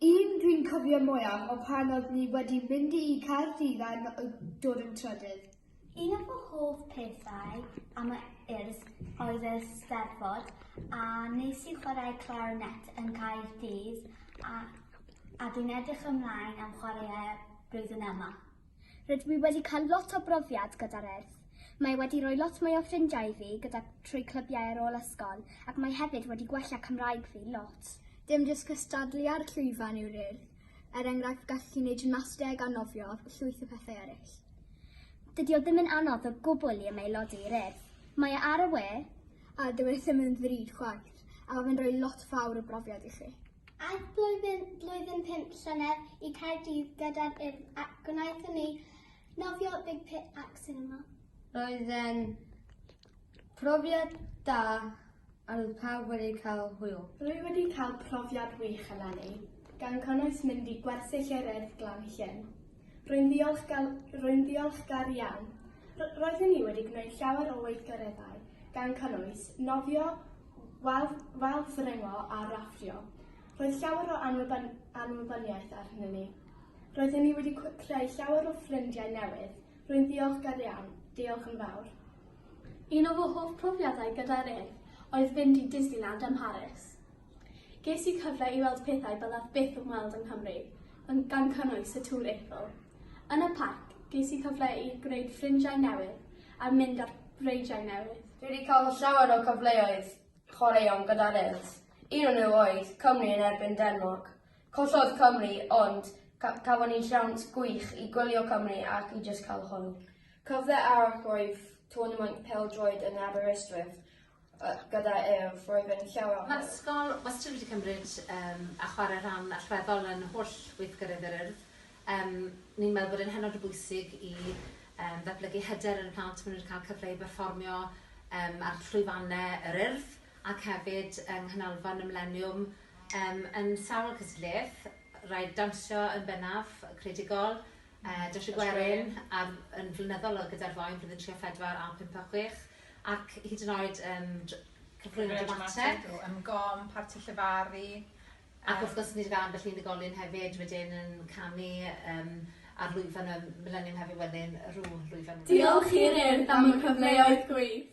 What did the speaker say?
Un dwi'n cofio mwyaf o pan oedd ni wedi mynd i Caerdydd a dod yn trydydd. Un o fy hoff pethau am y Urdd oedd y Steddfod a nes i chwarae clarinet yn Caerdydd a a dwi'n edrych ymlaen am chwarae e blwyddyn yma. Rydw i wedi cael lot o brofiad gyda'r Urdd. Mae wedi rhoi lot mwy o ffrindiau i fi gyda trwy clybiau ar ôl ysgol ac mae hefyd wedi gwella Cymraeg fi lot. Dim jyst cystadlu ar llwyfan yw'r Urdd, er enghraifft gallet ti wneud gymnasteg a nofio a llwyth o pethau eraill. Dydy o ddim yn anodd o gwbl i ymaelodi i'r Urdd. Mae e ar y we. A dyw e ddim yn ddrud chwaith, a mae fe'n rhoi lot fawr o brofiad i chi. Aeth blwyddyn, blwyddyn pump llynedd i Caerdydd gyda'r Urdd ac gwnaethon ni nofio Big Pit ac cinema. Roedd e'n profiad da a roedd pawb wedi cael hwyl. Rwy wedi cael profiad wych eleni, gan cynnwys mynd i gwersyll yr Urdd Glan Llŷn. Rwy'n ddiolchgar, rwy'n ddiolchgar iawn. R roeddwn i wedi gwneud llawer o weithgareddau, gan cynnwys nofio Wel, fel ffryngo a raffio. Roedd llawer o anwybyn-anwybyniaeth ar hynny ni. Roedden ni wedi cw- creu llawer o ffrindiau newydd, rwy'n ddiolchgar iawn, diolch yn fawr. Un o fy hoff profiadau gyda'r Urdd oedd fynd i Disneyland ym Mharis. Ges i cyfle i weld pethau byddaf byth yn weld yng Nghymru, yn gan cynnwys y Tŵr Eiffel. Yn y parc, ges i cyfle i gwneud ffrindiau newydd a mynd ar breidiau newydd. Dwi wedi cael llawer o cyfleoedd chwaraeon gyda Wales, un o nhw oedd Cymru yn erbyn Denmarc. Collodd Cymru ond cafon ni siawns gwych i gwylio Cymru ac i jyst cael hwyl. Cyfle arall oedd twrnamaint pêl-droed yn Aberystwyth, gyda ef, roedd e'n llawer o help. Mae'r ysgol wastad wedi cymryd yym a chwarae rhan allweddol yn holl weithgareddau'r Urdd. Yym ni'n meddwl bod e'n hynod o bwysig i yym ddatblygu hyder yn y plant maen nhw wedi cael cyfle i berfformio yym ar llwyfannau yr Urdd ac hefyd yng Nghanolfan y Mileniwm yym yn sawl cystadleuaeth, rhaid dawnsio yn bennaf, creadigol, yy dawnsio gwerin a yn flynyddol gyda'r ddou yn Blwyddyn Tri a Phedwar a Pump a Chwech. ac hyd yn oed yym cyflwyno dramatig o ymgom, parti llefaru yym... Ac wrth gwrs ni 'di ga'l ambell unigolyn hefyd wedyn yn canu yym ar lwyfan y Mileniwm Hefi Wenyn rw lwyfan. Diolch i'r Urdd am y cyfleoedd gwych.